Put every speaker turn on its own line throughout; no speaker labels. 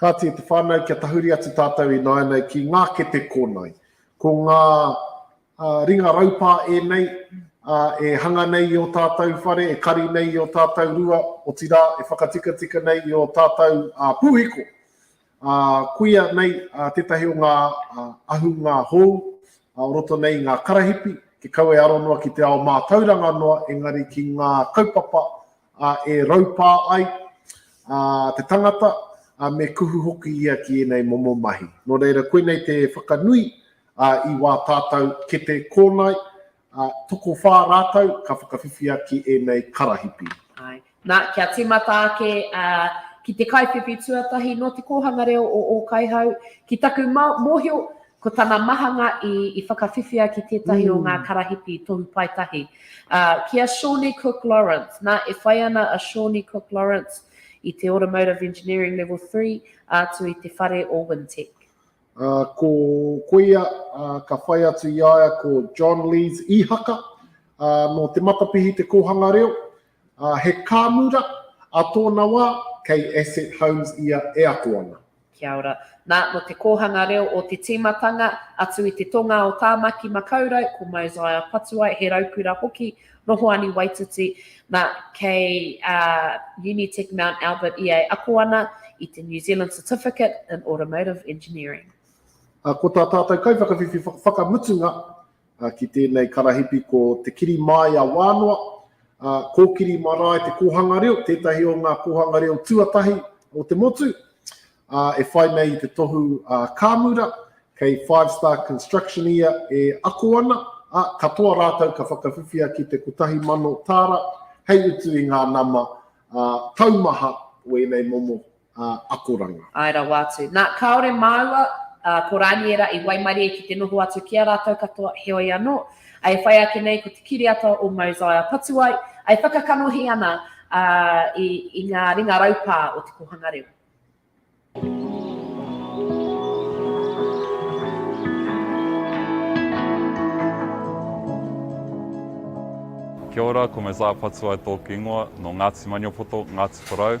Kāti i te whānau kia tahuri atu tātou ināianei ki ngā kete kōnae. Ko ngā ringa raupā ēnei e hanga nei i o tātou whare, e kari nei i o tātou rua, otirā e whakatikatika nei i o tātou pūhiko. Kuia nei tētahi o ngā ahunga hou o roto nei i ngā karahipi, te kau e aro noa ki te ao mātauranga noa, engari ki ngā kaupapa a e raupā ai a te tangata, a me kuhu hoki ia ki ēnei momo mahi. Nō reira, koinei te whakanui a i wā tātau kete kōnae, a tokowhā rātau ka whakawhiwhia ki ēnei karahipi. Āe. Nā,
kia tīmata ake a ki te kaiwhiwhi tuatahi nō Te Kōhanga Reo o Ōkaihau, ki taku mōhio, Ko tana mahanga i i whakawhiwhia ki tētahi o ngā karahipi tohu pae tahi, ā, ki a Shawnee Cook Lawrence. Nā, e whai ana a Shawnee Cook Lawrence i te Automotive Engineering Level Three atu i te whare o Wintec. Ā, ko
koia, ā, ka whai atu i a ia ko John Lees Ihaka, ā, nō Te Matapihi te kōhanga reo, He kāmura, ā tōna wā, kei Asset Homes ia e ako ana. Kia ora.
Nā, nō te kōhanga reo o te tīmatanga, atu i te tonga o Tāmaki Makaurau, ko Mosiah Patuai, he raukura hoki nō Hoani Waititi, nā, kei Unitec Mount Albert ia e ako ana i te New Zealand Certificate in Automotive Engineering. Ko tā
tātou kaiwhakawhiwhi whakamutunga, ki tēnei karahipi ko Te Kiri Māia Wānoa, Kōkiri Marae te kōhanga reo, tētahi o ngā kōhanga reo tuatahi o te motu, e whai nei i te tohu a Kāmura, kei Five Star Construction ia e ako ana, ā, katoa rātou ka whakawhiwhia ki te 1000 tāra hei utu i ngā nama taumaha o ēnei momo akoranga. Āe rawa atu.
Nā, kāore māua, ā, ko Rāniera i waimarie ki te noho atu ki a rātou katoa, heoi anō, e whai ake nei ko te kiriata o Mosiah Patuai e whakakanohi ana, ā, i, i ngā ringa raupā o te kōhanga reo.
Kia ora, ko Mosiah Patuai tōku ingoa, nō Ngāti Maniapoto, Ngāti Porou.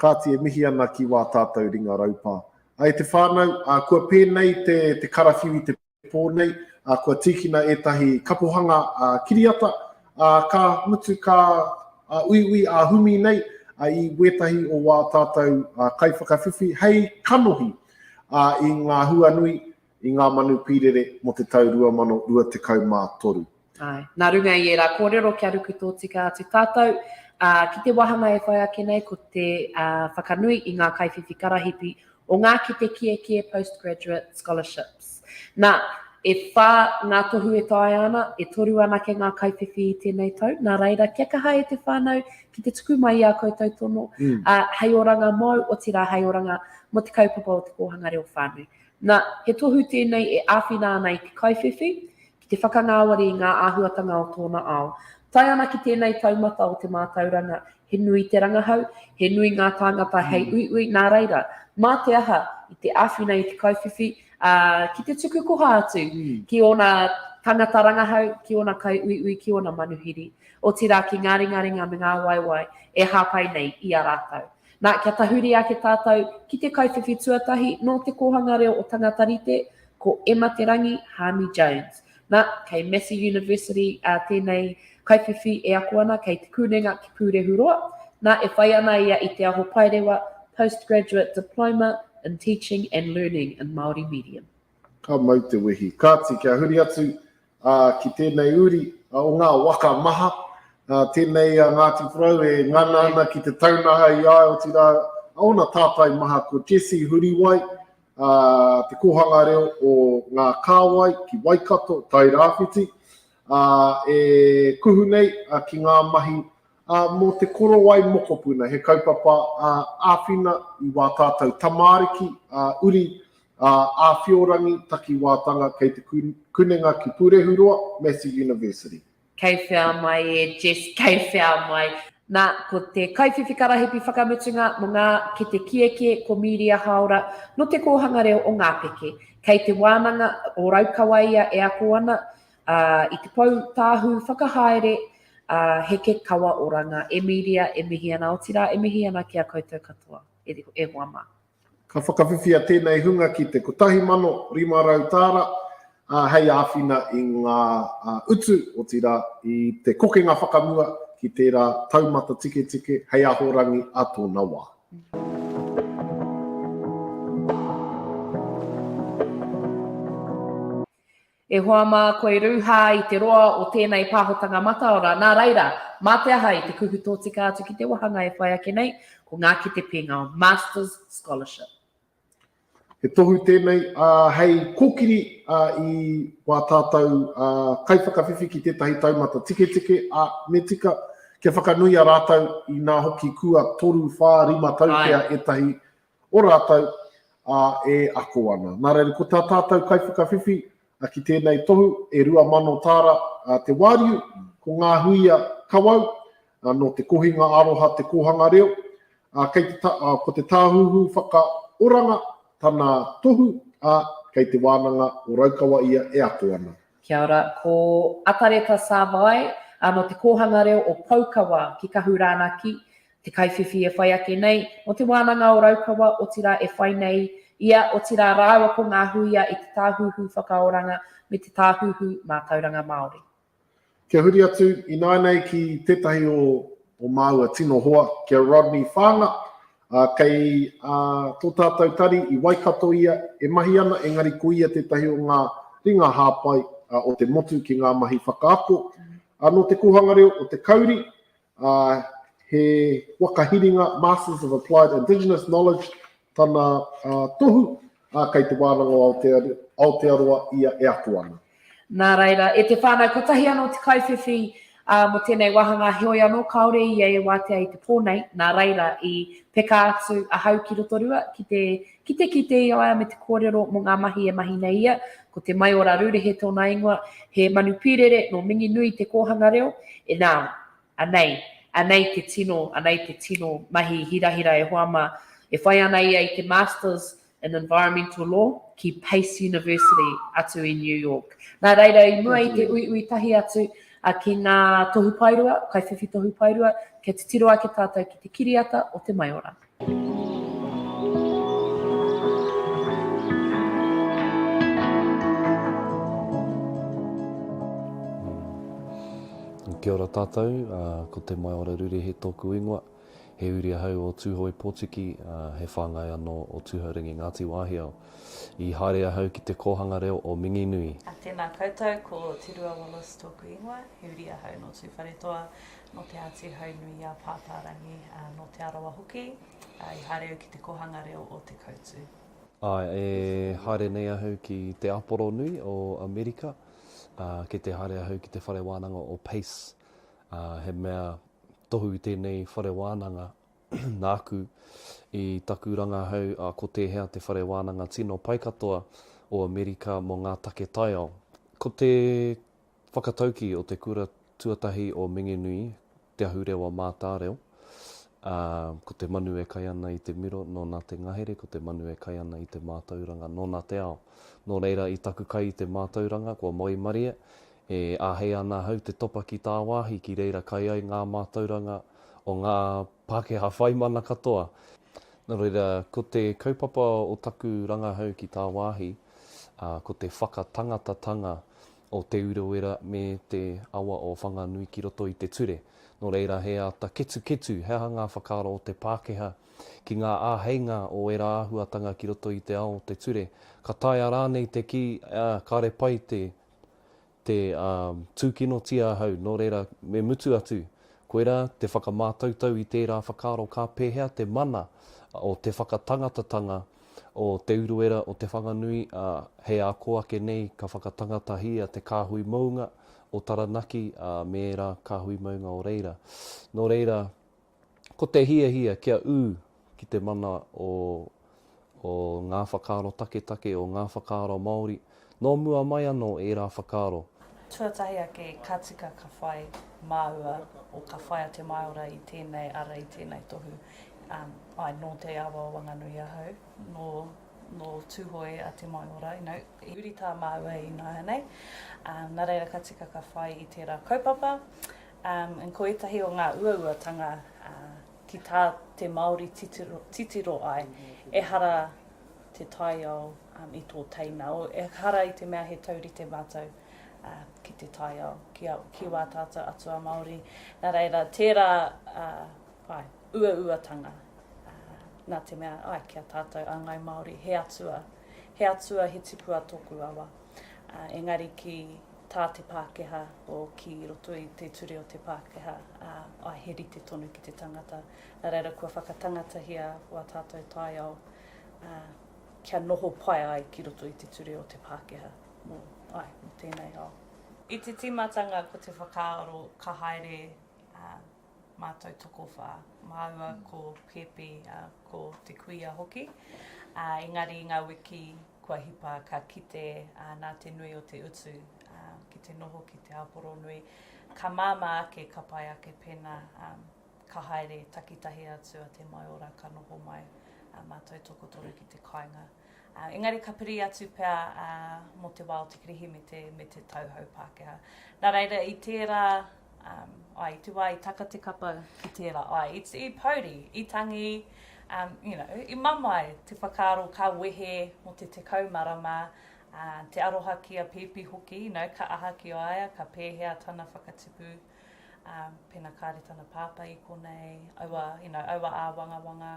Kāti e mihi ana ki wā tātou ringa raupā. A e te whānau, a kua pēnei te te karawhiu i te pō nei, a kua tīkina ētahi kapohanga a kiriata, a ka mutu ka a uiui a humi nei a i wētahi o wā tātou a kaiwhakawhiwhi hei kanohi a i ngā huanui i ngā manu pīrere mō te tau 2023. Āe, nā
runga i ērā kōrero kia ruku tōtika atu tātou, ā, ki te wāhanga e whai ake nei ko te whakanui i ngā kaiwhiwhi karahipi o ngā kete kiekie Postgraduate Scholarships. Nā, e whā ngā tohu e taea ana, e toru anake ngā kaiwhiwhi i tēnei tau, nā reira, kia kaha e te whānau ki te tuku mai i ā koutou tono, ā, hei oranga mōu, otirā hei oranga mō te kaupapa o te kōhanga reo whānui. Nā, he tohu tēnei e āwhina ana i te kaiwhiwhi ki te whakangāwari i ngā āhuatanga o tōna ao. Tae ana ki tēnei taumata o te mātauranga, he nui te rangahau, he nui ngā tāngata hei uiui, nā reira, mā te aha i te āwhina i te kaiwhiwhi, ā, ki te tuku koha atu ki ōna tāngata rangahau, ki ōna kaiuiui, ki ōna manuhiri, otirā ki ngā ringaringa me ngā waewae e hāpai nei i a rātou. Nā, kia tahuri ake tātou ki te kaiwhiwhi tuatahi nō Te Kōhanga Reo o Tangata Rite, ko Emma Te Rangi Haami Jones. Nā, kei Massey University ā tēnei kaiwhiwhi e ako ana kei Te Kunenga ki Pūrehuroa. Nā, e whai ana ia i te aho paerewa Postgraduate Diploma in Teaching and Learning in Māori Medium. Ka mau te
wehi. Kāti, kia huri atu ā, ki tēnei uri o ngā waka maha, ā, tēnei a Ngāti Porou e ngana ana ki te taunaha i a ia, otirā, ōna tātai maha ko Jesse Huriwai, ā, te kōhanga reo o ngā kāwai ki Waikato, Tairāwhiti, ā, e kuhu nei ki ngā mahi Ā, mō te korowai mokopuna, he kaupapa āwhina i wā tātou tamāriki, uri, āwhiorangi, takiwātanga kei te kunenga ki Pūrehuroa, Massey University. Kei whea
mai e Jess, kei whea mai. Nā, ko te kaiwhiwhi karahipi whakamutunga mō ngā kete kiekie ko Mīria Haora, nō Te Kōhanga Reo o Ngāpeke. Kei Te Wānanga o Raukawa ia e ako ana, ā, i te pou tāhū whakahaere, ā, heke kawa oranga. E Mīria, e mihi ana, otirā, e mihi ana ki a koutou katoa, e, e hoa mā. Ka whakawhiwhia
tēnei hunga ki te 1,500 tāra, ā, hei āwhina i ngā utu, otirā, i te kokenga whakamua ki tērā taumata tiketike hei ahorangi ā tōna wā.
E hoa mā, koi rūhā i te roa o tēnei pāhotanga mataora, nā reira, mā te aha i te kuhu tōtika atu ki te wāhanga e whai ake nei, ko ngā kete pēngao, Masters Scholarship.
He tohu tēnei hei kōkiri i wā tātou kaiwhakawhiwhi ki tētahi taumata tiketike, ā, me tika kia whakanuia rātou inā hoki kua toru, whā, rima tau pea ētahi o rātou, ā, e ako ana. Nā reira, ko tā tātou kaiwhakawhiwhi ki tēnei tohu, e 2,000 tāra te wāriu, ko ngā huia kawau, nō te kohinga aroha te kōhanga reo, ā, kei te, ko te Tāhuhu Whakaoranga tana tohu, ā, kei te wānanga o Raukawa ia e ako ana. Kia ora, ko
Atareta Savae, no Te Kōhanga Reo o Poukawa ki Kahu Rānaki, te kaiwhiwhi e whai ake nei, mo Te Wānanga o Raukawa, otirā e whai nei ia, otirā rāua ko ngā huia i te Tāhuhu Whakaoranga me te Tāhuhu Mātauranga Māori. Kia huri
atu ināianei ki tētahi o māua tino hoa, ki a Rodney Whaanga, Ā, kei ā, tō tātou tari i Waikato ia e mahi ana, engari ko ia tētahi o ngā ringa hāpai ā, o te motu ki ngā mahi whakaako ā, nō te kōhanga reo o te Kauri, ā, he waka hiringa Masters of Applied Indigenous Knowledge tana ā, tohu, Ā, kei te wānanga o Aotearoa ia e ako ana. Nā reira,
e te whānau, kotahi anō te kaiwhiwhi mō tēnei wāhangā, heoi anō, kāore ia e wātea i te pō nei, nā reira, i peka atu ahau ki Rotorua ki te kite ki te iaea me te kōrero mō ngā mahi e mahi nei ia, ko Te Maiora Rurehe tōna ingoa, he manu pīrere nō Minginui te kōhanga reo, e nā, Anei, anei te tino, anei te tino mahi hirahira e hoa mā. E whai ana ia i te Masters in Environmental Law ki Pace University atu i New York. Nā reira, i mua i te uiui tahi atu ki ngā tohu paerua, kaiwhiwhi tohu paerua, kia titiro ake tātou ki te kiriata o te maiora.
Kia ora tātou, ko Te Maiora Rurehe tōku ingoa. He uri ahau o Tūhoe Pōtiki, he whāngai anō o Tūhourangi Ngāti Wāhiao. I haere ahau ki te kōhanga reo o Minginui. Tēnā koutou,
ko Te Rua Wallace tōku ingoa. He uri ahau nō Tūwharetoa, nō Te Āti Haunui a Pāpārangi, ā, nō Te Arawa hoki, ā, i haere au ki te kōhanga reo o Te Koutu. Āe, e
haere nei ahau ki te Aporonui o Amerika, ā, ki te haere ahau ki te whare wānanga o Pace, ā, he mea tohu tēnei whare wānanga nāku i taku rangahau, ā, ko tēhea te whare wānanga tino pai katoa o Amerika mō ngā take taiao. Ko te Whakatauki o te Kura Tuatahi o Minginui, Te Ahurewa Mātāreo, ā, ko te manu e kai ana i te miro, nōna te ngahere, ko te manu e kai ana i te mātauranga, nōna te ao. Nō reira, i taku kai i te mātauranga, kua moe marie, e āhei ana ahau te topa ki tāwāhi ki reira kai ai ngā mātauranga o ngā Pākehā whaimana katoa. Nō reira, ko te kaupapa o taku rangahau ki tāwāhi, ā, ko te whakatangatatanga o Te Urewera me te awa o Whanganui ki roto i te ture. Nō reira, he āta ketuketu he aha ngā whakaaro o te Pākehā ki ngā āheinga o ērā āhuatanga ki roto i te ao o te ture. Ka taea rānei te kī, ā, kāre pai te, te, ā, tūkinotia ahau, nō reira, me mutu atu. Koirā, te whakamātautau i tērā whakaaro ka pēhea te mana o te whakatangatatanga o Te Uruera o Te Whanganui, ā, he ako ake nei ka whakatangatahia te kāhui mounga o Taranaki, ā, me ērā kāhui mounga o reira. Nō reira, ko te hiahia kia ū ki te mana o, o ngā whakaaro taketake, o ngā whakaaro Māori, Nō mua mai anō ērā whakaaro. Tuatahi ake
ka tika ka whai māua o ka whai a Te Maora i tēnei ara, i tēnei tohu. Āe, nō Te Awa o Wanganui ahau, nō, nō Tūhoe a Te Maora, you know, i huri tā māua i nāianei. Nā reira ka tika ka whai i tērā kaupapa. And ko ētahi o ngā uauatanga ki tā te Māori titiro, titiro ai, ehara, te taiao i tō teina. Ehara i te mea he taurite mātou ki te taiao, ki wā tātou atua Māori. Nā reira, tērā uauatanga, nā te mea, āe, ki a tātou a Ngāi Māori, he atua, he atua, he tipua tōku awa. Engari ki tā te Pākehā, o ki roto i te ture o te Pākehā, āe, he rite tonu ki te tangata. Nā reira, kua whakatangatahia wā tātou taiao, ā, kia noho pai ai ki roto i te ture o te Pākehā mō, āe, mō tēnei ao. I te tīmatanga ko te whakaaro ka haere, ā, mātou tokowhā, māua ko Pēpi, ā, ko te kuia hoki, ā, engari i ngā wiki kua hipa ka kite, ā, nā te nui o te utu, ā, ki te noho ki te ao poronui, ka māmā ake ka pai ake pēnā, ā, Ka haere takitahi atu a Te Maiora, ka noho mai a mātou tokotoru ki te kāinga. Engari ka piri atu pea mō te wā o te Kirihimete me te tauhou Pākehā. Nā reira, i tērā, ai, i te wā i taka te kapa ki tērā, ai, i pouri, i tangi, you know, i mamae te whakaaro ka wehe mō te tekau marama, te aroha ki a Pēpi hoki, you know, ka aha ki a ia, ka pēhea tana whakatipu. Um, pena kāre tana pātai i konei, aua, you know, aua āwangawanga,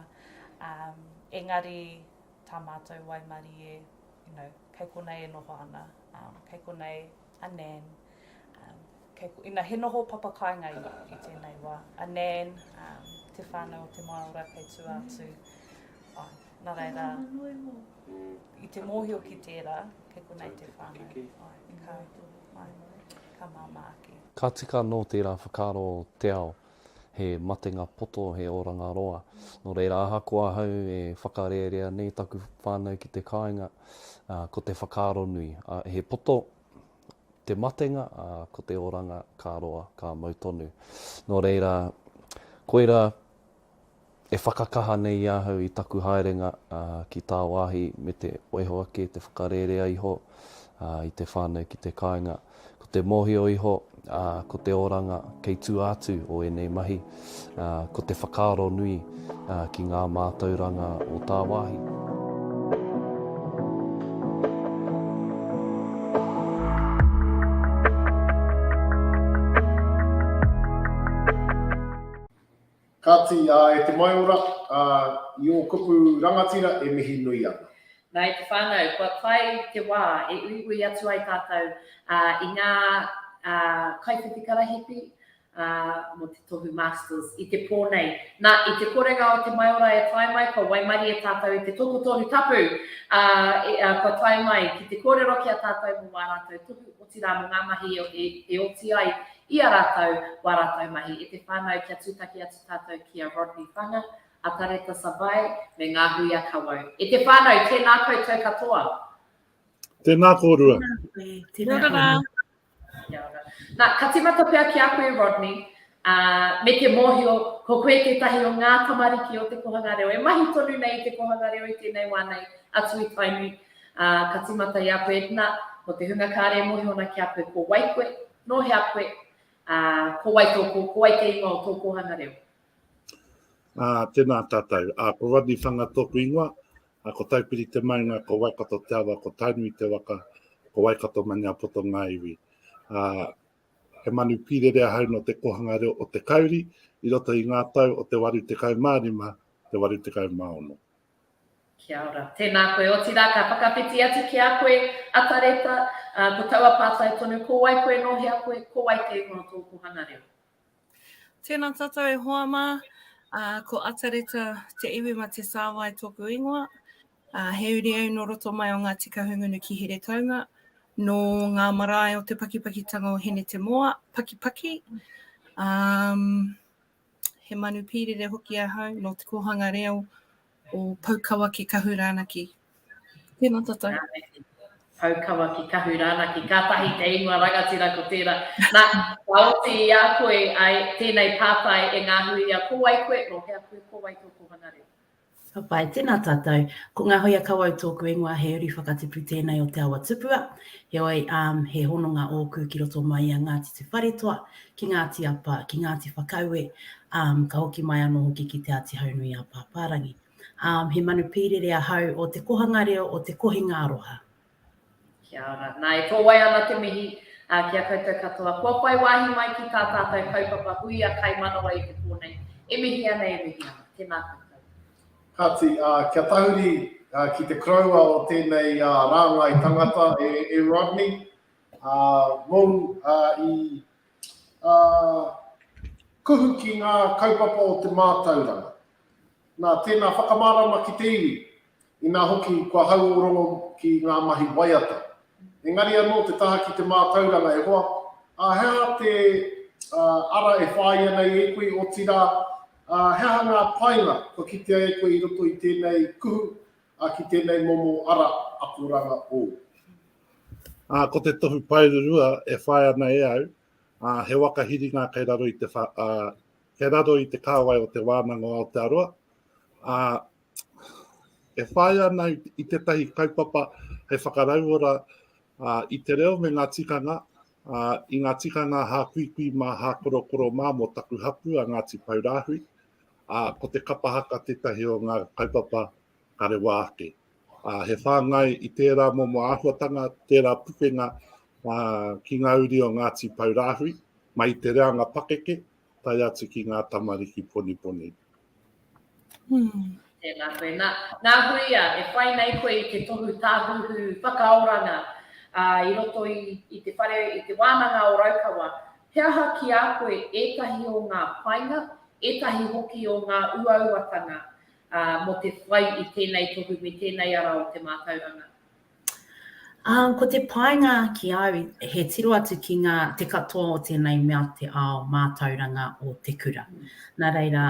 um, engari tā mātou waimarie, you know, kei konei e noho ana, um, kei konei a Nan, um, kei, you know, he noho papa kāinga i, i tēnei wā. A Nan, um, te whānau o te Māora kei tū atu, mm. oh, nā reira, mm. i te mōhio ki tērā, kei konei te whānau. Ai, ka, ai. ka māmā ake. Ka tika nō tērā
whakaaro o te ao, he matenga poto, he oranga roa. Nō reira, ahakoa ahau e whakarērea nei taku whānau ki te kāinga, ko te whakaaro nui, he poto te matenga, ā, ko te oranga ka roa, ka mau tonu. Nō reira, koirā. e whakakaha nei i ahau i taku haerenga ki tāwāhi me te oiho ake, te whakarērea iho i te whānau ki te kāinga. Ko te mōhio iho, ko te oranga kei tua atu o ēnei mahi, ko te whakaaro nui ki ngā mātauranga o tāwāhi.
Kāti, ā, e te maiora, ā, i ō kupu rangatira e mihi nui ana. Nā, e te whānau,
kua tae te wā e uiui atu ai tātou, ā, i ngā, ā, kaiwhiti karahipi, ā, mō te tohu Masters i te pō nei. Nā, i te korenga o te maiora e tae mai, kua waimarie tātou i te tokotohu tapu, ā, kua tae mai ki te kōrero ki a tātou mō wā rātou tohu o te. otirā mō ngā mahi e oti ai i a rātou, wā rātou mahi, e te whānau kia tūtaki atu tātou ki a Rodney Whanga, a Tareta Savae, me ngā hui a Kawau. E te whānau, tēnā koutou katoa.
Tēnā kōrua. Tēnā koutou. Tēnā
koutou.
Nā, ka tīmata pea ki a koe Rodney, Uh, me te mōhio, ko koe tētahi o ngā tamariki o te kohanga reo, e mahi tonu nei i te kohanga reo i tēnei wā nei, atu i Tainui, Ā, ka tīmata i a koe, Edna, mō te hunga kāre e mōhio ana ki a koe, ko wai koe, nō hea koe, ā, ko wai tō, ko wai te ingoa o tō kōhanga
reo? Ā, tēnā tātou. Ā, ko Rodney Whanga tōku ingoa, ā, ko Taupiri te maunga, ko Waikato te awa, ko Tainui te waka, ko Waikato Maniapoto ngā iwi. Ā, he manu pīrere ahau nō te kōhanga reo o te kauri i roto i ngā tau o te 85, te 86. Kia
ora. Tēnā koe, otirā ka whakawhiti atu ki a koe a Tareta, ā, ko taua pātai tonu, ko wai koe nō hea koe, ko wai kē kono tō kōhanga reo? Tēnā
tātou e hoa mā, ā, ko Atareta Te Iwi-ma-te-sāwai tōku ingoa, ā, he uri au nō roto mai o Ngāti Kahungunu ki Heretaunga, nō ngā marae o te pakipakitanga o Hine-te-moa, Pakipaki, ā, He manu pīrere hoki ahau nō te kōhanga reo o Poukawa ki Kahu Rānaki. Tēnā tātou. Rānaki. Poukawa
ki Kahu Rānaki. Kātahi te ingoa rangatira ko tērā. Nā, ka oti i a koe ai tēnei pātai e ngāhuia, ko wai koe, nō hea koe, ko wai tō kōhanga reo? Ka pai, tēnā
tātou. Ko Ngā Hoia Kawau tōku ingoa, he uri whakatipu tēnei o Te Awa Tupua. Heoi, ām, he hononga ōku ki roto mai i a Ngāti Te Wharetoa, ki Ngāti Apa, ki Ngāti Whakaue, ām, ka hoki mai anō hoki ki Te Āti Haunui-ā-Pāpārangi. Ām, he manu pīrere ahau o te kohanga reo, o te kohinga aroha. Kia
ora. Nā, e ko wai ana te mihi ki a koutou katoa. Kua whai wāhi mai ki tā tātou kaupapa hui a Kai Manawa i te pō nei. E mihi ana, e mihi ana. Tēnā koutou. Kāti,
kia tahuri ki te koroua o tēnei rāngai tangata e Rodney, mōu i kuhu ki ngā kaupapa o te mātauranga. Nā, tēnā whakamārama ki te iwi. Inā hoki, kua hauorongo ki ngā mahi waiata. Engari anō te taha ki te mātauranga e hoa, ā, he aha te ara e whāia nei e koe, otirā, ā, he aha ngā painga kua kitea e koe i roto i tēnei kuhu, ā, ki tēnei momo ara akoranga ou?
Ā, ko te tohu paerurua e whai ana e au, ā, he waka hiringa kei raro i te, ā, kei raro i te kāwai o Te Wānanga o Aotearoa, ā, e whai ana i tētahi kaupapa hei whakarauora uh, i te reo me ngā tikanga, uh, i ngā tikanga hā kuikui mā, hā korokoro mā mō taku hapū a Ngāti Paurāhui. Uh, ko te kapahaka tētahi o ngā kaupapa ka rewa ake. Uh, he whāngai i tērā momo āhuatanga, tērā pukenga uh, ki ngā uri o Ngāti Paurāhui, mai te reanga pakeke, tai atu ki ngā tamariki poniponi.
Tēnā koe. Nā, nā Huia e whai nei koe i te tohu tāhuhu whakaoranga ā, i roto i, i te whare, i te wānanga o Raukawa, he aha ki a koe ētahi o ngā painga, ētahi hoki o ngā uauatanga ā, mō te whai i tēnei tohu me tēnei ara o te mātauranga?
Ā, ko te painga ki au, he tiro atu ki ngā, te katoa o tēnei mea te ao mātauranga o te kura. Nā reira,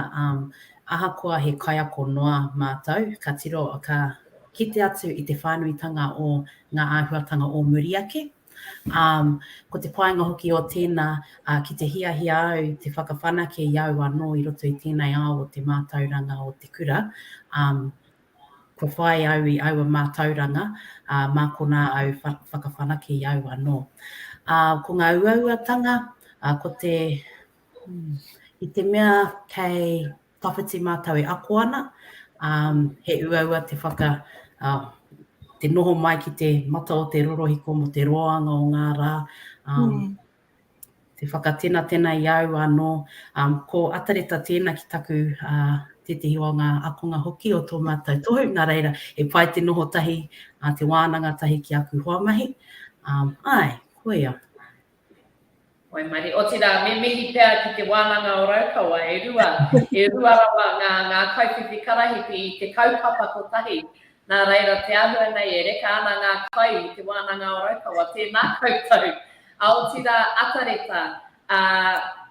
ahakoa he kaiako noa mātou, ka tiro, ka kite atu i te whānuitanga o ngā āhuatanga o muri ake. Ā, ko te painga hoki o tēnā, ki te hiahia au te whakawhanake i au anō i roto i tēnei ao o te mātauranga o te kura, Kua whai au i aua mātauranga, ā, mā konā au whakawhanake i au anō. Ā, ko ngā uauatanga, ā, ko te, hmm, i te mea kei tawhiti mātou e ako ana, ā, he uaua te whaka, ā, te noho mai ki te mata o te rorohiko mō te roanga o ngā rā, ā, Te whakatenatena i au anō, ko Atareta tēna ki taku, tētehi o ngā akonga hoki o tō mātou tohu, nā reira, he pai te noho tahi, te wānanga tahi ki aku hoamahi. Āe, koia. Waimarie,
otirā, me mihi pea ki te wānanga o Raukawa, e rua, e rua rawa ngā, ngā kaiwhiwhi karahipi i te kaupapa kotahi, Nā reira, te āhua nei e reka ana ngā kai i Te Wānanga o Raukawa, tēnā koutou. A otirā, Atareta, ā,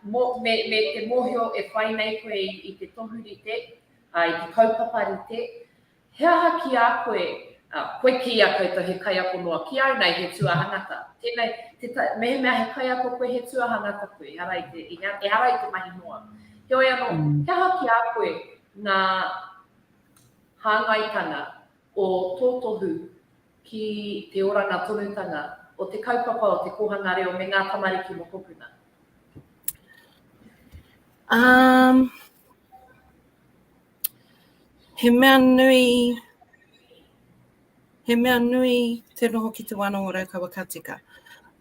mō, me, me te mōhio e whai nei koe i, i te tohu rite, ā, i te kaupapa rite, he aha ki a koe, ā, koe ki a koutou he kaiako noa, ki au nei he tuahangata. Tēnei, te ta, mehemea he kaiako koe, he tuahangata koe, ehara i te, ehara i te mahi noa. Heoi anō, he aha ki a koe ngā. hāngaitanga o tō tohu ki te oranga tonutanga o te kaupapa o te kōhanga reo me ngā tamariki mokopuna? Um,
he mea nui, he mea nui te noho ki te wānanga o Raukawa ka tika.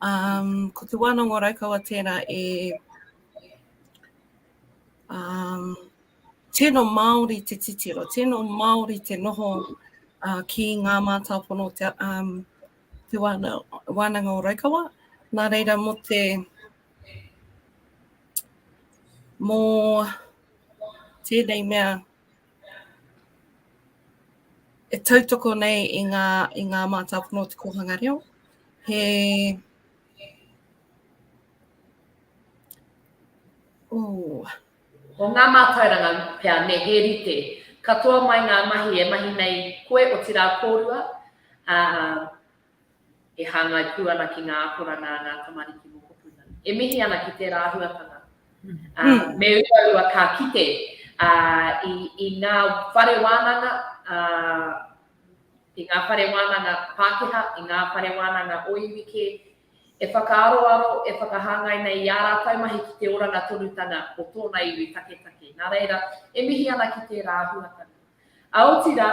Um, ko te wānanga o Raukawa tērā e um, tino Māori te titiro, tino Māori te noho ki ngā mātāpono o Te Wānanga o Raukawa. Nā reira, mō te, mō tēnei mea e tautoko nei i ngā, i ngā mātāpono o te kōhanga reo, he,
oh, Ko ngā mātauranga pea me he rite katoa mai ngā mahi e mahi nei koe otirā kōrua, ā, e hāngai pū ana ki ngā akoranga a ngā tamariki mokopuna. E mihi ana ki tērā āhuatanga. Ā, me uaua ka kite, ā, i, i ngā whare wānanga, ā, i ngā whare wānanga Pākehā, i ngā whare wānanga o iwi kē, e whakaaroaro, e whakahāngai nei i ā rātou mahi ki te oranga tonutanga o tōna iwi taketake, nā reira, e mihi ana ki tērā āhuatanga. A otira,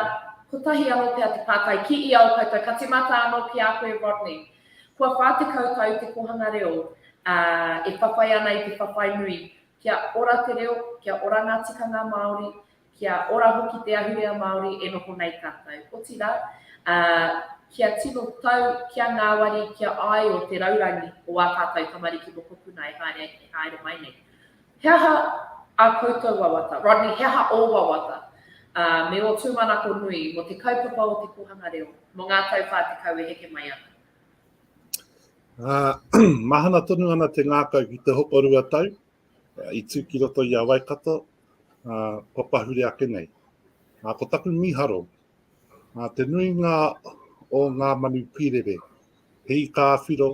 kotahi anō pea te pātai ki ia o koutou, ka tīmata anō ki a koe Rodney, kua whā tekau tau te kōhanga reo, ā, e whawhai ana i te whawhai nui, kia ora te reo, kia ora ngā tikanga Māori, Kia ora hoki te ahurea Māori e noho nei tātou, otirā, ā, kia tino tau, kia ngāwari, kia āio te raurangi o ā tātou tamariki mokopuna e haere, e haere mai nei. He aha ā koutou wawata? Rodney, he aha ō wawata, ā, me ō tūmanako nui mō te kaupapa o te kōhanga reo mō ngā tau whā tekau e heke mai ana? Ā,
mahana tonu ana te ngākau ki te hoko rua tau, I tū ki roto i a Waikato, ā, kua pahure ake nei. Ā, ko taku mīharo, ā, te nuinga o ngā manu pīrere, he ika ā-whiro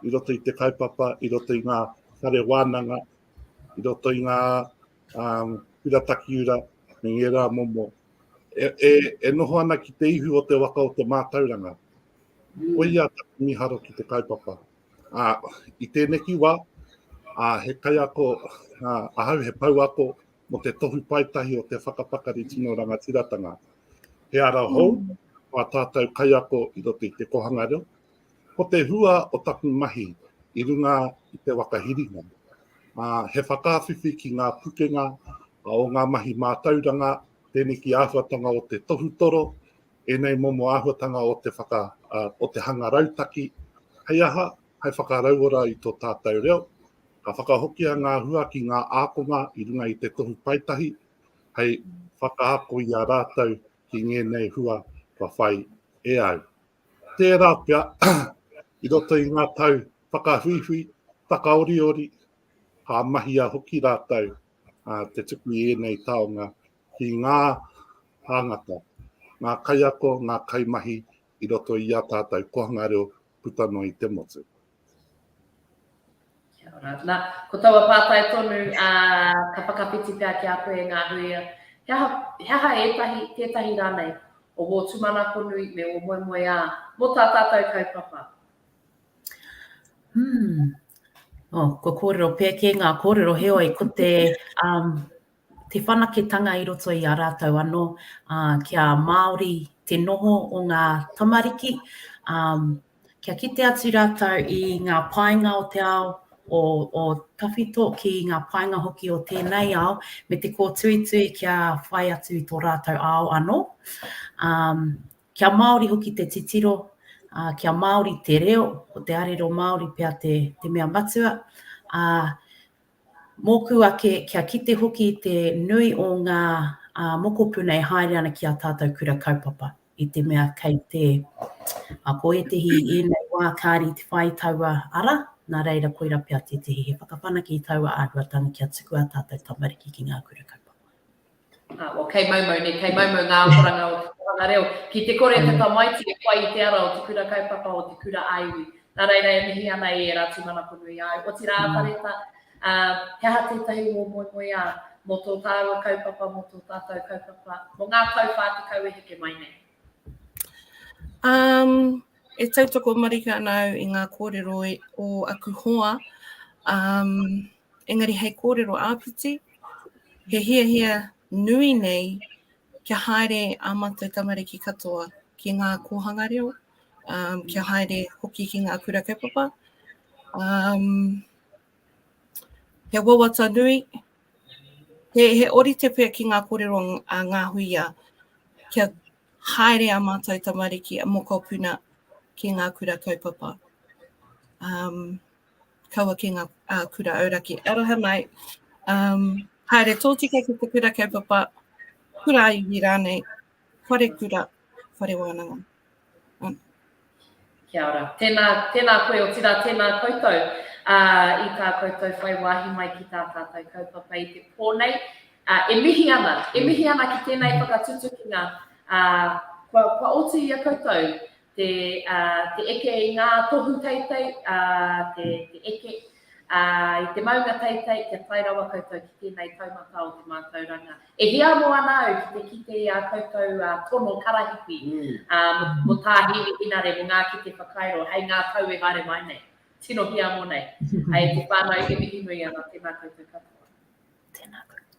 i roto i te kaupapa, i roto i ngā whare wānanga, i roto i ngā um, pira takiura, me ngē rā momo. E, e, e noho ana ki te ihu o te waka o te mātauranga. Koia taku mīharo ki te kaupapa. Ā, i tēneki wā, ā, he kaiako, ā, ahau he pouako mō te tohu paetahi o te whakapakari tino rangatiratanga. He ara hou, a tātou kaiako i roto i te kohanga reo, ko te hua o taku mahi i runga i te waka hiringa. Ā, he whakawhiwhi ki ngā pukenga o ngā mahi mātauranga, tēneki āhuatanga o te tohutoro, ēnei momo āhuatanga o te whaka, o te hanga rautaki, hei aha, hei whakarauora i tō tātou reo, ka whakahokia ngā hua ki ngā ākonga i runga i te Tohu Paetahi, hei whakaako i a rātou ki ngēnei hua kua whai e au. Tērā pea, i roto i ngā tau whakahuihui, whakaoriori, ka mahia hoki rātou te tuku i ēnei taonga ki ngā tāngata, ngā kaiako, ngā kaimahi i roto i ā tātou kōhanga reo puta noa i te motu. Kia
ora. Nā, ko taua pātai tonu, ā, ka whakawhiti pea ki a koe e ngā hui, he aha, he aha ētahi, tētahi rānei, o wō tūmanako nui me wō moemoeā mō tā tātou kaupapa? Hmm.
Oh, kua kōrero pēkē ngā kōrero, heoi, ko te, um, te whanaketanga i roto i a rātou anō, ā, kia māori te noho o ngā tamariki, ā, kia kite atu rātou i ngā painga o te ao, o, o tawhito ki ngā painga hoki o tēnei ao, me te kōtuitui kia whai atu i tō rātou ao anō. Ā, kia māori hoki te titiro, ā, kia māori te reo, ko te arero Māori pea te, te mea matua, ā, Mōku ake, kia kite hoki te nui o ngā mokopuna e haere ana ki ā tātou kura kaupapa, i te mea kei te, ko ētehi i ēnei wā kāre i te whā i taua ara, nā reira koirā pea tētehi he whakawhanake i taua āhuatanga kia tuku ā tātou tamariki ki ngā kura kaupapa. Well, kei mau mau
nei, kei mau mau ngā akoranga o te Kōhanga Reo. Ki te kore te tamaiti e whai i te ara o te kura kaupapa, o te kura a iwi. Nā reira e mihi ana i ērā tūmanako nui āu. Otirā a Pareta, he aha tētahi wō moemoeā mō tō tāua kaupapa, mō tō tātou kaupapa, mō ngā tau 40 e heke mai nei? Um,
e tautoko marika ana au i ngā kōrero o aku hoa. Um, engari hei kōrero āpiti, he hiahia nui nei kia haere ā mātou tamariki katoa ki ngā kōhanga reo, um, kia haere hoki ki ngā kura kaupapa. Um, he wawata nui, he, he orite pia ki ngā kōrero a ngā huia kia haere a mātou tamariki a mokopuna ki ngā kura kaupapa. Um, kaua ki ngā kura auraki. Aroha mai, um, haere tōtika ki te kura kaupapa, kura aiwi rānei, whare kura, whare wānanga. Um.
Kia ora. Tēnā, tēnā koe o tira, tēnā koutou uh, i tā koutou whai wāhi mai ki tā tātou kaupapa i te pō nei. Uh, e mihi ana, e mihi ana ki tēnei whakatutukinga uh, kua, kua oti i a koutou te eke i ngā tohu teitei, te eke i te maunga teitei kia tae rawa koutou ki tēnei taumata o te mātauranga. E hiamo ana au ki te kite i ā koutou tono karahipi mō Tā Hēmi Hinare, mō ngā kete whakairo hei ngā tau e haere mai nei. Tino hiamo nei. Hei te whānau, he mihinui ana, tēnā koutou katoa. Tēnā koutou.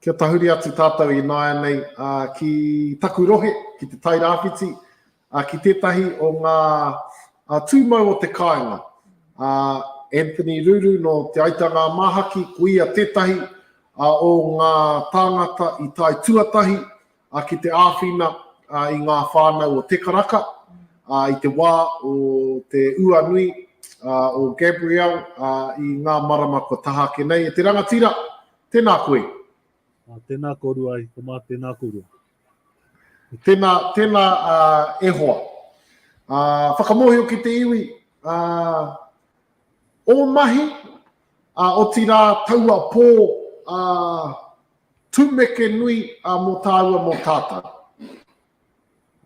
Kia tahuri atu tātou ināianei ki taku rohe, ki te Tairāwhiti, ki tētahi o ngā tūmau o te kāinga. Anthony Ruru nō Te Aita Ngā Māhaki, ko ia tētahi o ngā tāngata i tae tuatahi Ki te āwhina i ngā whānau o Te Karaka i te wā o te ua nui o Gabrielle i ngā marama kua taha ake nei. E te rangatira, tēnā koe. Tēnā
korua e te mā, tēnā korua. Tēnā,
tēnā e hoa. Whakamōhio ki te iwi, ō mahi, otirā taua pō Tumeke nui a mo tāua mo tātou.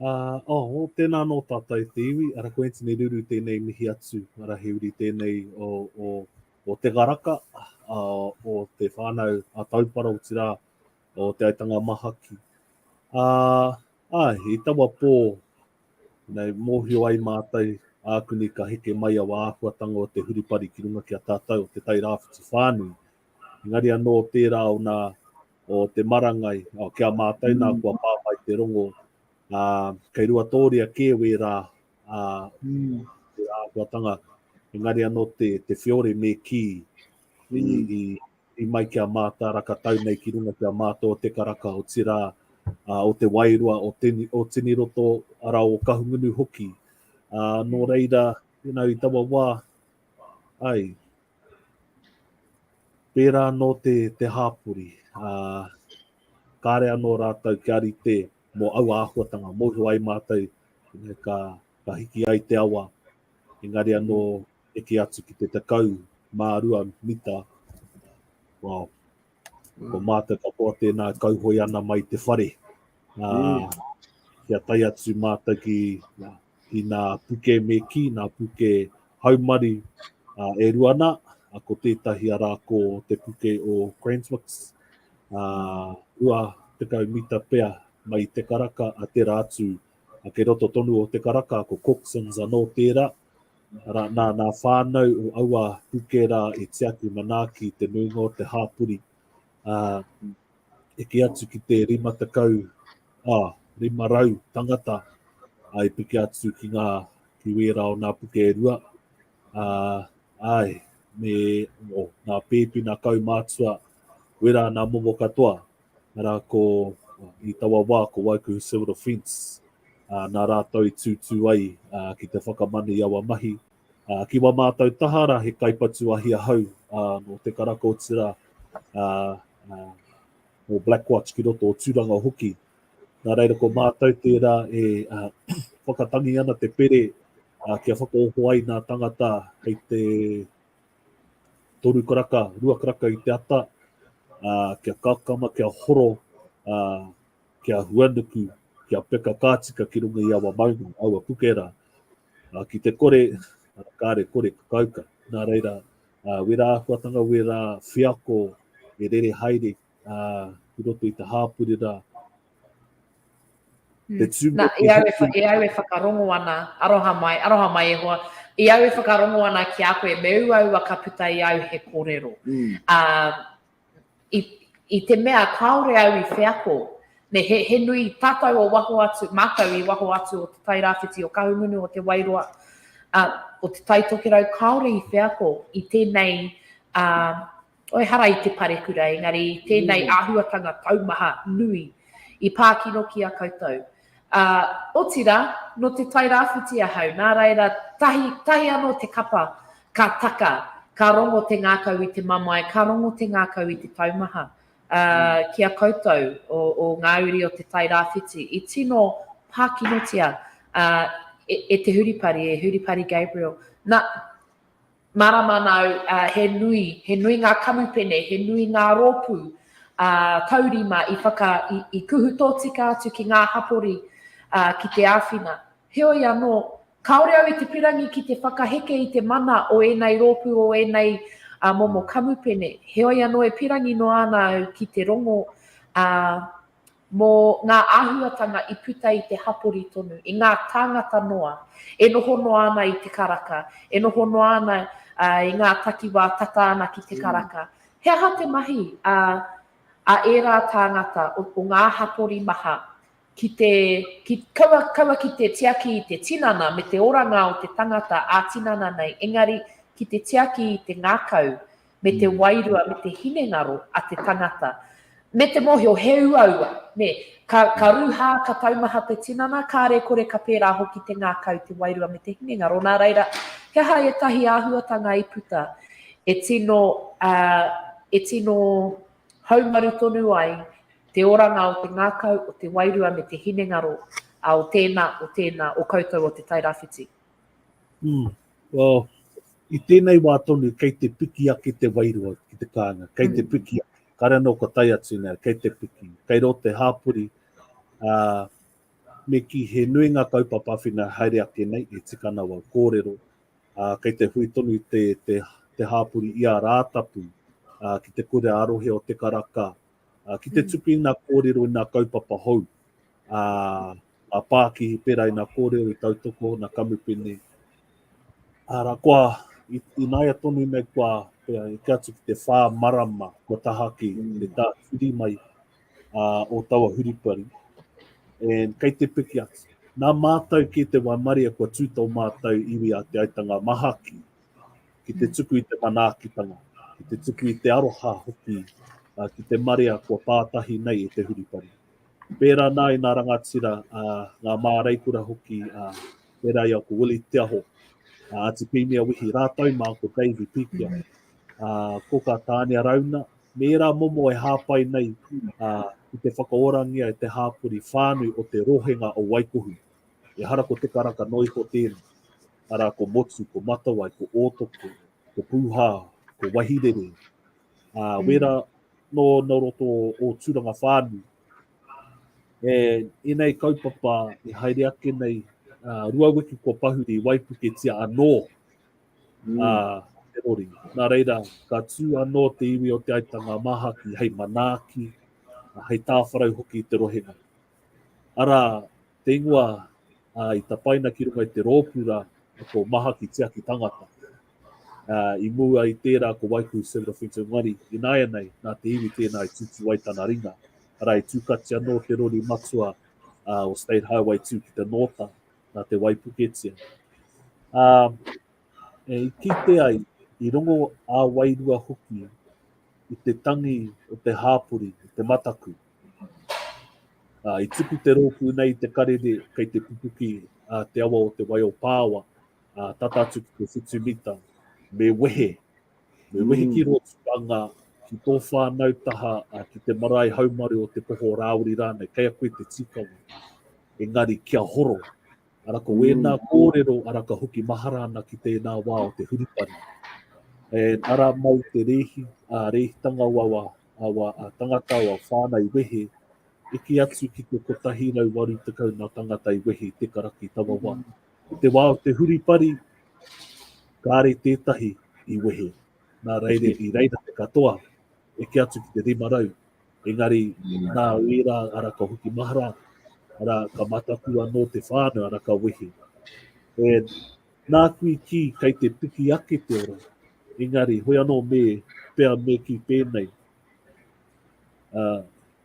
Uh,
oh, tēnā anō tātou te iwi, ara ko Anthony Ruru tēnei mihi atu, ara he uri tēnei o, o, o Te Garaka, uh, o te whānau a Taupara, o tirā, o Te Aitanga Mahaki. Uh, ah, i tawa pō, nei, mōhio ai mātou, ākuni ka heke mai a wāhuatanga o te huripari ki runga ki a tātou, o te tai rāwhiti whānui, Engari anō tērā o nā, o te marangai, o ki a mātou nā kua pā mai te rongo, ā, kei ruatōria kē wērā, ā, te āhuatanga, engari anō te, te whiore me kī, i, i, i mai ki a Mātāraka tau nei ki runga ki a mātou o Te Karaka, otirā, ā, o Te Wairua, o, Tini, o Tiniroto, arā, o Kahungunu hoki. Ā, nō reira, you know, i taua wā, Ai. Pērā anō te, te hāpori. Ā, kāre anō rātou kia rite mō aua āhuatanga. Mōhio ai mātou, engari ka, ka hiki ai te awa, engari anō eke atu ki te tekau mā rua mita. Wow. Ko mātou katoa tēnā kauhoi ana mai te whare. Nā, mm. kia tai atu mātou ki, ki nā puke me ki, nā puke haumari uh, e ruana, uh, ko tētahi ara ko te puke o Cranswicks, uh, ua te kau mita pea mai te karaka a te rātu, a ke roto tonu o te karaka, ko Coxons anō tērā, Ara, nā, nā whānau o aua puke rā e tiaki manaaki te nuinga o te hāpori. Uh, e ki atu ki te rima tekau, ah, rima rau tangata uh, e piki atu ki ngā ki wērā o nā puke e rua. Uh, ai, me o, nā pēpi, nā kaumātua, wērā nā momo katoa. arā ko, i taua wā ko Waikuhu Civil Defence, ā, nā rātou i tūtū ai ā, ki te whakamana i aua mahi. Ā, ki wā mātou taha rā he kaipatu ahi ahau ā, nō Te Karaka o Tirā, ā, ā, nō Blackwatch ki roto o Tūranga hoki. Nā reira ko mātou tērā e ā, whakatangi ana te pere ā, kia whakaoho ai nā tangata hei te Toru karaka, rua karaka i te ata, ā, kia kakama, kia horo, ā, kia huanuku, kia peka ka tika ki runga i awa maunga, awa puke rā. Ā, ki te kore, ā, kāre kore ka kauka. Nā reira, ā, wērā āhuatanga, wērā wheako e rere haere uh, i roto i te hāpuri rā. Mm.
Te tū Na, e, au e, wha, e au e whakarongo ana, aroha mai, aroha mai e hoa, e au e whakarongo ana ki a koe, me ua ua ka puta i au he kōrero. Mm. Uh, i, i te mea kāore au i wheako, ne he, he nui tātou o waho atu, mātou i waho atu o te tairāwhiti o Kahungunu o te Wairoa, uh, o te taitokerau kāore i wheako i tēnei uh, Ehara i te parekura, engari i tēnei āhuatanga taumaha nui i pā kino ki a koutou. Ā, otirā, nō te Tai Rāwhiti ahau, nā reira, tahi, tahi anō te kapa, ka taka, ka rongo te ngākau i te mamae, ka rongo te ngākau i te taumaha. Ā, ki a koutou, o, o ngā uri o te Tai Rāwhiti, i tino pā kinotia, ā, e, e te huripari, e Huripari Gabriel. Nā. Mārama nāu, he nui, he nui ngā kamupene, he nui ngā rōpū taurima i whaka, i kuhu tōtika atu ki ngā hapori ki te āwhina. Heoi anō, kāore au i te pirangi ki te whakaheke i te mana o ēnei rōpū, o ēnei momo kamupene. Heoi anō e pirangi noa ana au ki te rongo mō ngā āhuatanga i puta i te hapori tonu, i ngā tāngata noa e noho noa ana i te karaka, e noho noa ana i ngā takiwā tata ana ki te karaka. He aha te mahi a ērā tāngata o ngā hapori maha ki te, kaua ki te tiaki i te tinana me te oranga o te tangata ā-tinana nei, engari ki te tiaki i te ngākau me te wairua, me te hinengaro a te tangata, me te mohio he uaua, ne, ka, ka ruha, ka taumaha te tinana, kāre kore ka pērā hoki te ngākau, te wairua me te hinengaro, nā reira, he aha ētahi āhuatanga i puta e tino, uh, e tino haumaru tonu ai te oranga o te ngākau, o te wairua me te hinengaro, uh, o tēnā, o tēnā, o koutou o te Tairawhiti? Mm.
Well, I tēnei wā tonu kei te piki ake te wairua ki te kāinga, kei te piki ake. Kāre anō kua tae atu nei, kei te piki. Kei rō te hāpori, ā, me kī he nui ngā kaupapa awhina haere ake nei, e tika ana wau kōrero, ā, kei te hui tonu te, te, te hāpori i a Rātapu, ā, ki te kura arohe o te karaka, ā, ki te tuku i ngā kōrero, i ngā kaupapa hou, ā, a Pākihi pērā i nā kōrero i tautoko nā Kamupene. Ara, kua inaia tonu nei kua pea e ke atu ki te whā marama kua tahaki mm. le tā whiri mai uh, o taua huripari. And kei te piki atu. Nā mātou ki te waimaria kua tū tō mātou iwi a te aitanga mahaki ki te mm. tuku i te manaakitanga, ki te tuku i te aroha hoki uh, ki te marea kua pātahi nei e te huripari. Pērā ana i ngā rangatira, ngā māreikura hoki, pērā i a ko Willie Te Aho, a Atipīmia Wihi, rātou mā ko Davey Pīkia, ko kā Tānia Rauna, me ērā momo e hāpai nei i te whakaorangia e te hāpori whānui o te rohenga o Waikohu. Ehara ko Te Karaka noa iho tēnei, arā ko Motu, ko Matawai, ko Ōtoko, ko Pūhā, ko Wahirere, ā, mm. wērā nō no roto o Tūranga Whānui. E, enei kaupapa e haere ake nei, ā, rua wiki kua pahuri waipuketia anō, mm. ā, te rori. Nā reira, ka tū anō te iwi o Te Aitanga Māhaki hei manaaki, hei tāwharau hoki i te rohe nei. Arā, te ingoa i tapaina ki runga i te rōpū rā, ko Mahaki Tiaki Tangata. I mua i tērā ko Waikuhu Several Things in One, i nāianei, nā te iwi tēnā i tutu ai tana ringa. Arā, i tūkati anō te rori matua o State Highway 2 ki te nōta, nā te waipuketia. E kite ai, i rongo ā-wairua hoki i te tangi o te hāpori, te mataku. Ā, i tuku te rōpū nei i te karere kei te pupuki a te awa o Te Wai-o-Pāoa, ā, tata atu ki te whitu mita. Me wehe, me wehe ki rō tukanga, ki tō whānau taha, ā, ki te marae haumaru o Te Poho-o-Rāwiri rānei, kei a koe te tīkawa. Engari kia horo, Ara ko wēnā kōrero ara ka hoki mahara ana ki tēnā wā o te hurupari. E ara mai te rēhi, a rēhitanga o awa, awa a tangata o a whānau wehe, eke atu ki te 180 nā tangata i wehe i te karaki tawa wā. I te wā o te huripari, kāre tētahi i wehe, nā reire i reira te katoa, eke atu ki te 500, Engari, nā wērā, ara ka hoki mahara, ara ka mataku anō te whānau, ara ka wehi. E, nā kui ki, kei te piki ake te ora. Engari, hoi anō me, pea me ki pēnei. Uh,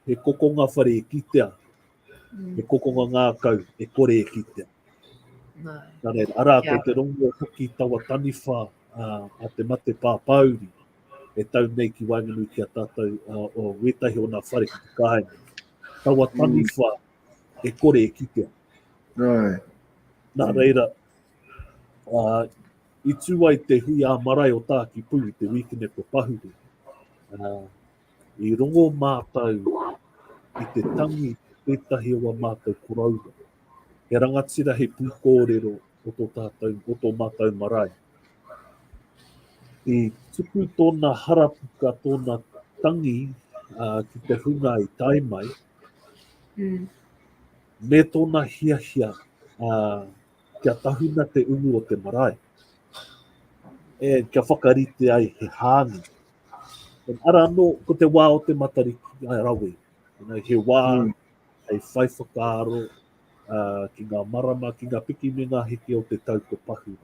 he kokonga whare e kitea, He kokonga ngākau e kore e kitea. No. Nā reira, arā, yeah. ko te rongo hoki tawa taniwha uh, a te mate pāpāuri e tau nei ki waenganui ki a tātou uh, o wētahi o nā whare ki te kāinga. Tawa mm. taniwha mm. e kore e kitea. No. Nā reira, uh, i tū ai te hui ā marae o Tāki Pū, te wīkine ko Pahuru. Uh, I rongo mātou i te tangi tētahi o a mātou koroua, he rangatira, he pūkōrero o tō tātou, o tō mātou marae. I tuku tōna harapuka, tōna tangi uh, ki te hunga i tae mai, mm. me tōna hiahia uh, kia tahuna te umu o te marae. E, kia whakarite ai he hāngi. Pen ara anō, ko te wā o te matariki a rawe. You know, he wā mm. hei whai whakaaro uh, ki ngā marama, ki ngā piki me ngā heke o te tau ko pahu.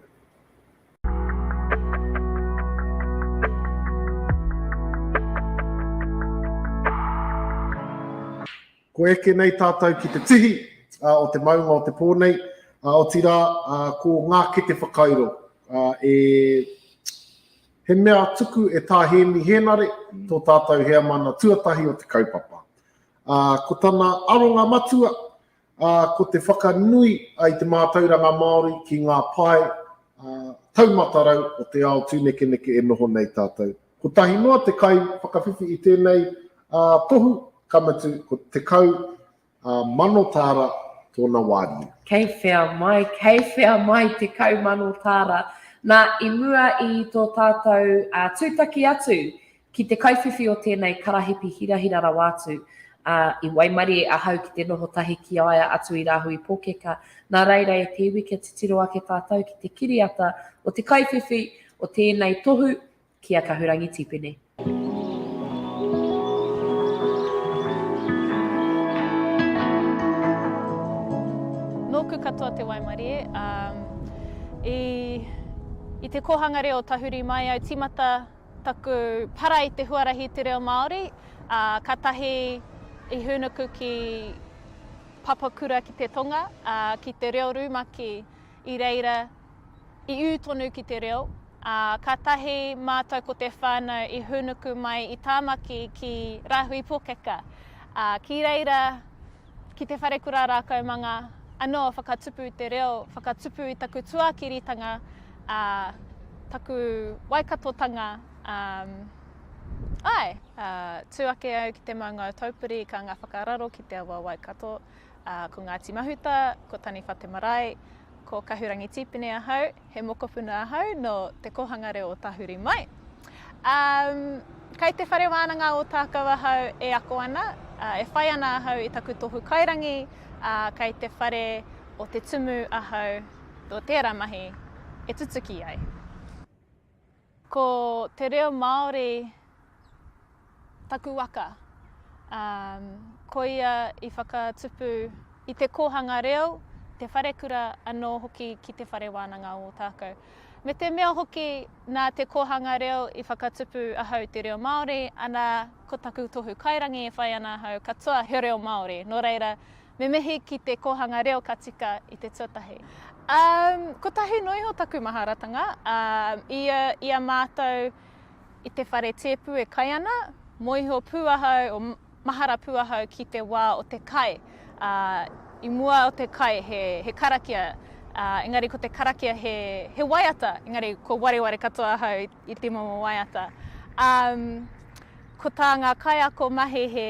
Ko eke nei tātou ki te tihi uh, o te maunga o te pō nei, uh, o tira uh, ko ngā kete whakairo uh, e He mea tuku e Tā Hēmi Hēnare, tō tātou heamana tuatahi o te kaupapa. Ā, ko tana aronga matua, ā, ko te whakanui i te mātauranga Māori ki ngā pae taumatarau o te ao tūnekeneke e noho nei tātou. Kotahi noa te kaiwhakawhiwhi i tēnei tohu, ka mutu, ko 10 Ā, mano tāra tōna wāriu. Kei whea mai,
kei whea mai te kau mano tāra. Nā, i mua i tō tātou ā, tūtaki atu ki te kaiwhiwhi o tēnei karahipi hirahira rawa atu, ā, i waimarie ahau ki te noho tahi ki a ia atu i Rāhui Pōkeka. Nā reira e te iwi kia titiro ake tātou ki te kiriata o te kaiwhiwhi o tēnei tohu ki a Kahurangi Tipene.
Nōku katoa te waimarie, ā, i, i te kōhanga reo o tahuri mai au tīmata taku para i te huarahi i te reo Māori, ā, kātahi i hūnuku ki Papakura ki te tonga, ā, ki te reo rumaki i reira I ū tonu ki te reo, ā, ka tahi mātou ko te whānau i hūnuku mai i Tāmaki ki Rāhui Pōkeka, ā, ki reira ki te wharekura rākaumanga anō whakatupu te reo, whakatupu i taku tuākiritanga, ā, taku Waikatotanga, ā, āe, ā, tū ake au ki te maungao taupiri ka ngā whakararo ki te awa Waikato, ā, ko Ngāti Mahuta, ko Taniwha te marae, Ko Kahurangi Tīpene ahau, he mokopuna ahau nō Te Kōhanga Reo o Tahuri mai. Um, kai te whare wānanga o Tākau ahau e ako ana, uh, e whai ana ahau i taku tohu kairangi, uh, kai te whare o Te Tumu ahau, tō tērā mahi e tutuki ai. Ko te reo Māori taku waka. Koia i whakatupu i te kōhanga reo, te wharekura anō hoki ki Te Whare Wānanga o Ōtākou. Me te mea hoki nā te kōhanga reo i whakatupu ahau te reo Māori, ana ko taku tohu kairangi e whai ana ahau katoa he reo Māori. Nō reira, Me mihi ki te kōhanga reo ka tika i te tuatahi. Um, kotahi noa iho taku maharatanga, um, i, a, i a mātou i te whare tēpu e kai ana, moiho pū ahau, o mahara pū ahau ki te wā o te kai. Uh, I mua o te kai he, he karakia, uh, engari ko te karakia he, he waiata, engari ko wareware katoa ahau i, i te momo waiata. Um, ko tā ngā kaiako mahi he,